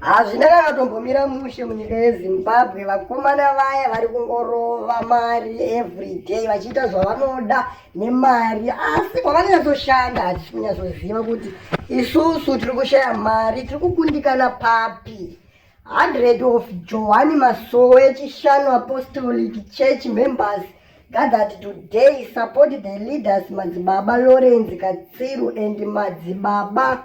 hazvina kakatombomira mushe munyika yezimbabwe vakomana vaya vari kungorova mari everyday vachiita zvavanoda nemari asi kwavanonyatsoshanda hatisi kunyatsoziva kuti isusu tiri kushaya mari tiri kukundikana papi 100 of johani masowe chishanu apostolic church members gathered today support the leaders madzibaba lawrence katsiru and madzibaba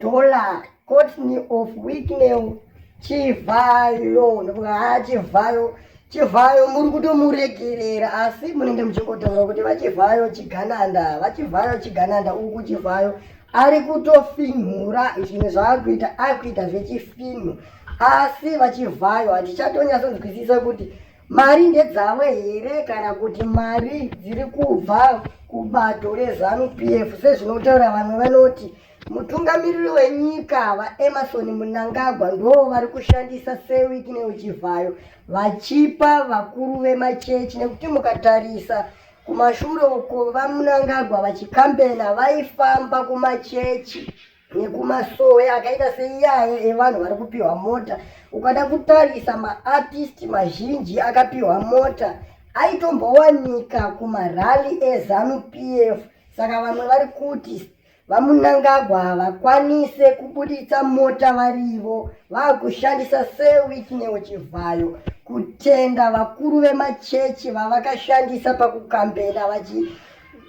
Tola Courtney of Wicknell Chivhayo ndokuti haa Chivhayo Chivhayo muri kutomuregerera asi munenge muchingotaura kuti vaChivhayo Chigananda vaChivhayo Chigananda uku Chivhayo ari kutofinhura zvinhu zvaakuita akuita zvechifinhu asi vaChivhayo hatichatonyasonzwisisa kuti mari ndedzavo here kana kuti mari dziri kubva kubato rezanu p f sezvinotaura vamwe vanoti Mutungamiriri wenyika VaEmmerson Mnangagwa ndoo vari kushandisa seWiki neUchivhayo vachipa vakuru vemachechi nekuti mukatarisa kumashure uko VaMnangagwa vachikambena vaifamba kumachechi nekumasowe akaita seiyaye evanhu vari kupiwa mota. Ukada kutarisa maartisti mazhinji akapiwa mota aitombowanika kumarally eZanu PF saka vamwe vari kuti VaMunangagwa havakwanise kubuditsa mota varivo vakushandisa Sir Whitney Chivhayo kutenda vakuru vemachechi vavakashandisa pakukambena vachi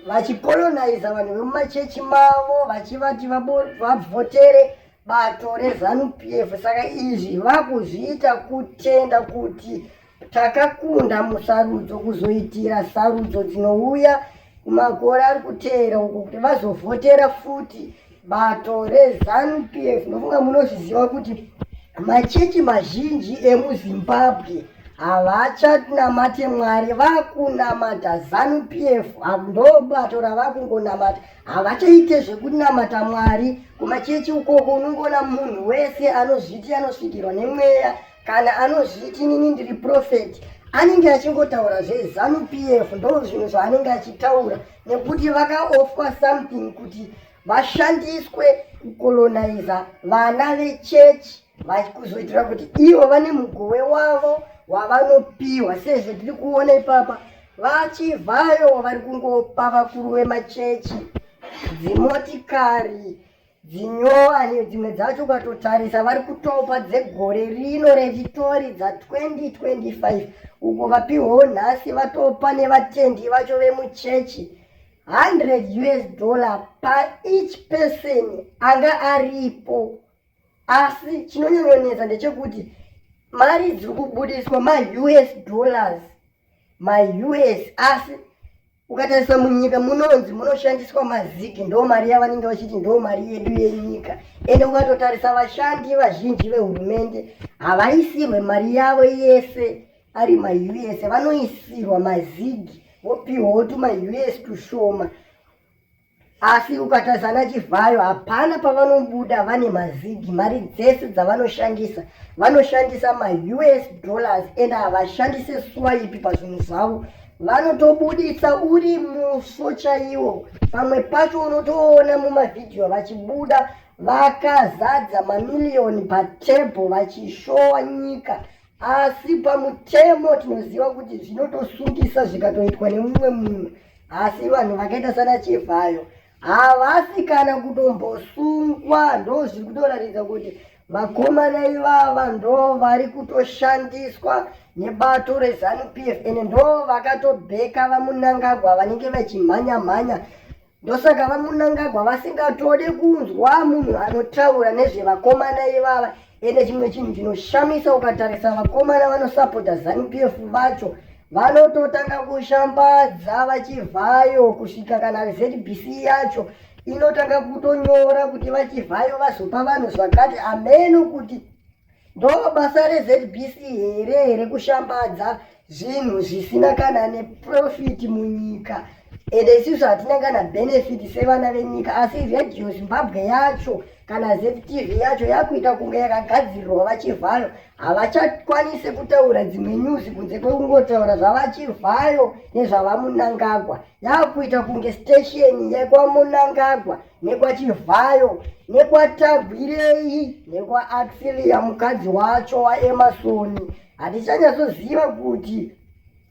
vachikolonaiza vanhu vemumachechi mavo vachivati vabvotere bato rezanup f saka izvi vakuzviita kutenda kuti Takakunda musarudzo kuzoitira sarudzo dzinouya kumakore ari kuteera uko kuti vazovhotera futi bato rezanu p f nofunga munozviziva kuti machechi mazhinji emuzimbabwe havachanamate mwari vakunamata zanu p f ndobato ravakungonamata havachaite zvekunamata mwari kumachechi ukoko unongoona munhu wese anozviti anosvikirwa nemweya kana anozviti inini ndiri profeti anenge achingotaura zvezanu p f ndo zvinhu zvaanenge achitaura nekuti vakaofwa something kuti vashandiswe kukoloniza vana vechechi vakuzoitira kuti ivo vane mugowe wavo wavanopiwa sezvo tiri kuona ipapa vachivhayo vari kungopa vakuru vemachechi dzimotikari dzinyowani dzimwe dzacho ukatotarisa vari kutopa dzegore rino rechitori dza 2025 uko vapihwawo nhasi vatopa nevatendi vacho vemuchechi 100 us dollar paeach person anga aripo asi chinonyanyonetsa ndechekuti mari dziri kubudiswa maus dollars maus asi Ukatarisa munyika munonzi munoshandiswa maziki ndo mari yavanenge vachiti ndo mari yedu yenyika ende ukatotarisa vashandi vazhinji vehurumende havaisirwe mari yavo yese ari maus vanoisirwa mazigi vopiwawo tumaus tushoma asi ukatarisa ana chivhayo hapana pavanobuda vane mazigi mari dzese dzavanoshandisa vanoshandisa maus dollars and havashandise swaipi pazvinhu zvavo vanotobudisa uri musvo chaiwo pamwe pacho unotoona mumavhidhiyo vachibuda vakazadza mamiliyoni patebho vachishowa nyika asi pamutemo tinoziva kuti zvinotosungisa zvikatoitwa nemumwe munhu asi vanhu vakaita sana chivhayo havasi kana kutombosungwa ndo zviri kutoratidza kuti vakomana ivava ndo vari kutoshandiswa nebato rezanup f and ndo vakatobheka vamunangagwa vanenge vachimhanya mhanya ndosaka vamunangagwa vasingatode kunzwa munhu anotaura nezvevakomana ivava ende chimwe chinhu chinoshamisa ukatarisa vakomana vanosapota zanupf vacho vanototanga kushambadza vachivhayo kusvika kana zbc yacho inotanga kutonyora kuti vachivhayo vazopa vanhu zvakati ameno kuti Ndoo basa reZBC here rekushambadza zvinhu zvisina kana neprofit munyika ende isusu hatina kana benefit sevana venyika asi radio zimbabwe yacho kana ztv yacho yakuita kunge yakagadzirirwa vachivhayo havachakwanise kutaura dzimwe news kunze kwekungotaura zvavachivhayo nezvavamunangagwa yakuita kunge station yekwamunangagwa nekwachivhayo nekwatagwirei nekwaatfilia mukadzi wacho waemasoni hatichanyatsoziva kuti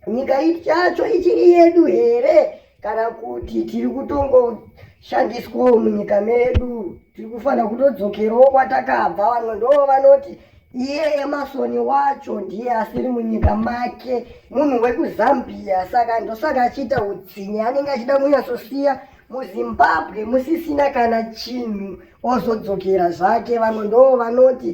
nyika yacho ichiri yedu here kana kuti tiri kutongoshandiswawo munyika medu tiri kufanira kutodzokerowo kwatakabva vamwe ndoo vanoti iye emasoni wacho ndiye asiri munyika make munhu wekuzambia saka ndosaka achiita utsinye anenge achida kunyatsosiya muzimbabwe musisina kana chinhu ozodzokera zvake vamwe ndoo vanoti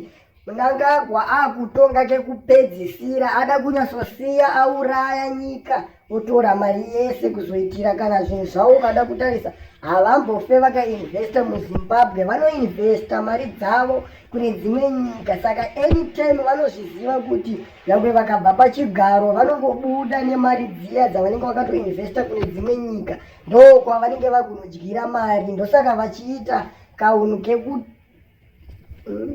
mnangagwa akutonga kekupedzisira ada kunyasosiya auraya nyika otora mari yese kuzoitira kana zvinhu zvavo ukada kutarisa havambofe vakainvesta muzimbabwe vanoinvesta mari dzavo kune dzimwe nyika saka anytime vanozviziva kuti nyangwe vakabva pachigaro vanongobuda nemari dziya dzavanenge vakatoinvesta kune dzimwe nyika ndokwavanenge vakunodyira mari ndosaka vachiita kaunhu kekuti hmm?